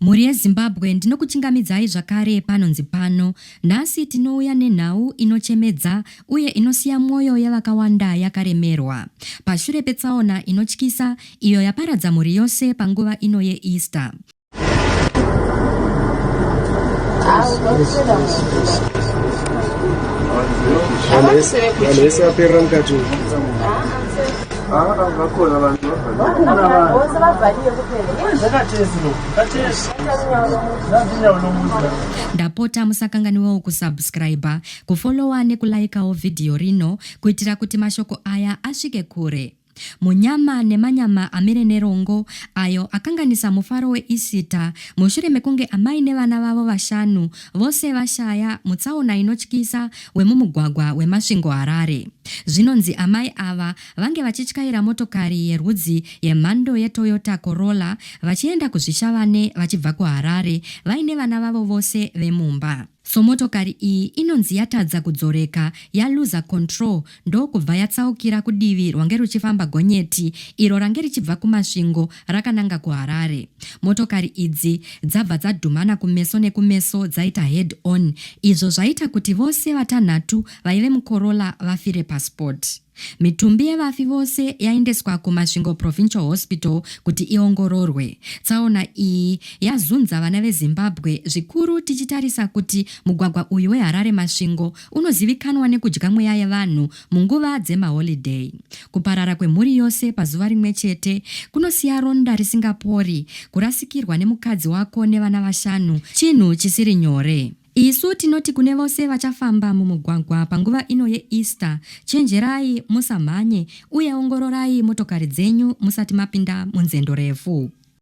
Mhuri yeZimbabwe ndinokuchingamidzai zvakare panonzi pano. Nhasi tinouya nenhau inochemedza uye inosiya mwoyo yevakawanda yakaremerwa. Pashure petsaona inotyisa iyo yaparadza mhuri yose panguva ino yeEaster, Vanhu vese vaperera mukati umu. ndapota musakanganiwawo kusubscriber kufollowa nekulaikawo vhidhiyo rino kuitira kuti mashoko aya asvike kure munyama nemanyama amire nerongo ayo akanganisa mufaro weisita mushure mekunge amai nevana vavo vashanu Vose vashaya mutsaona inotyisa wemumugwagwa weMasvingo Harare. Zvinonzi amai ava vange vachityaira motokari yerwudzi yemhando yeToyota Corolla vachienda kuZvishavane vachibva kuHarare vaine vana vavo vose vemumba. So motokari iyi inonzi yatadza kudzoreka yaluza control ndokubva yatsaukira kudivi rwange ruchifamba gonyeti iro range richibva kuMasvingo rakananga kuHarare. Motokari idzi dzabva dzadhumana kumeso nekumeso dzaita head on izvo zvaita kuti vose vatanhatu vaive muCorolla vafire paspot. Mitumbi yevafi vose yaendeswa kuMasvingo Provincial Hospital kuti iongororwe. Tsaona iyi yazunza vana veZimbabwe zvikuru tichitarisa kuti mugwagwa uyu weHarare-Masvingo unozivikanwa nekudya mweya yevanhu munguva dzemaholiday. Kuparara kwemhuri yose pazuva rimwe chete kunosiya ronda risingapori, kurasikirwa nemukadzi wako nevana vashanu chinhu chisiri nyore. Isu tinoti kune vose vachafamba mumugwagwa panguva ino yeEaster, chenjerai musamhanye uye ongororai motokari dzenyu musati mapinda munzendo refu.